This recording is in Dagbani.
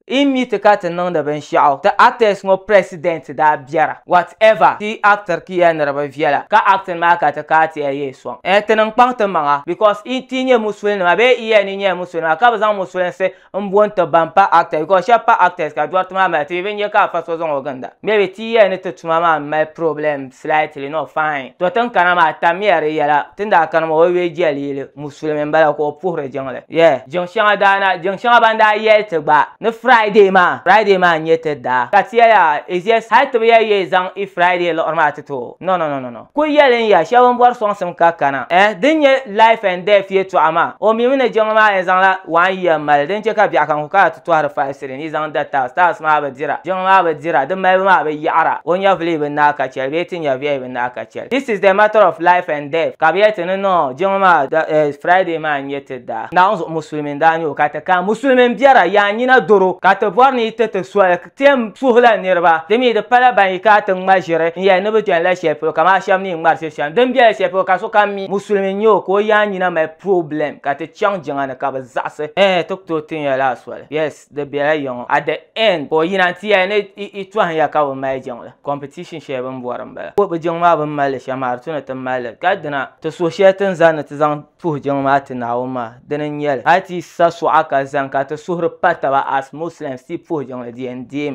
Yi mi ti ka ti niŋdi binshɛɣu ti actors ŋɔ president daa biɛra what ever ti yi actr ki ya niriba viɛla ka acting maa ka ti kaa ti ya yee sɔŋ eh ti niŋ kpaŋ ti maŋa because yi ti nyɛ musuli nima bee yi ya ni nyɛla musuli nima ka bi zaŋ musulinsi n bo n ti ban pa actors because shɛb pa actors ka dɔriti maa mali ti bi nyɛ ka afa so zaŋ o ginda maybe ti yi ya ni ti tuma maa mali problems. slightly not fine to tin kana maa tammiya di yɛla tin daa kana maa o yuli jɛli yili musulimi n bala ka o puhiri jiŋli yeah jiŋ shɛŋa daana jiŋ shɛŋa ban daa yɛli ti gba ni friday maa friday maa n nyɛ ti daa ka ti yɛli a is just hali ti bi yɛli yee zaŋ i friday liɣiri maa ti ti o no no no no no kuli yɛli n ya shɛba n bɔri sɔŋsim ka kana eh din nyɛ life and death yɛtɔɣa maa o mimi ni jiŋli maa yɛn zaŋla one year mali din chɛ ka biɛɣukam kuli kana ti tɔhiri falsiri n yi zaŋ da taas, taas maa bi dira, jiŋ maa bi dira, di malibu maa bi yaɣira, o nyɛvili bi naai ka chɛli bee ti nyɛviɛi bi naai ka chɛli. This is the matter of life and death ka bi yɛli ti ni niŋ jiŋ maa da, eh, Friday maa n-nyɛ ti daa. Naawuni zuɣu Musulimi n-daa nyɛ o ka ti kana. Musulimi m-biɛra, yaa nyina doro ka ti bɔri ni yi ti ti soli kpiɛm suhila niriba. Di mi di pala ban yi kana ti ŋma ʒiri n-yɛli ni bi chani la shɛli polo kaman a shɛba ni yi ŋmari shiri shɛm. Din biɛla shɛli polo ka sokam mi Musulimi n-nyɛ o ka o yaa nyina mali problem ka ti chaŋ jiŋa ni ka bi zaɣisi, eh, ti ku tooi ti nya la soli. Yes, di bela yiŋɔ. At the end ka o yina n-ti ya ni i tɔhim ya ka bi mali jiŋ la. Competition shɛli bini bɔri m-bala. Bi jiŋ maa bini mali li shɛm maa di tu ni ti mali li. Ka dina ti suhu shɛli ti ni zani ni ti zaŋ puhi jiŋ maa ti Naawuni maa dini n-nyɛli. Hali ti yi sa suɣa ka zani ka ti suhuri pa taba as Muslims ti yi puhi jiŋli di yɛn deemi.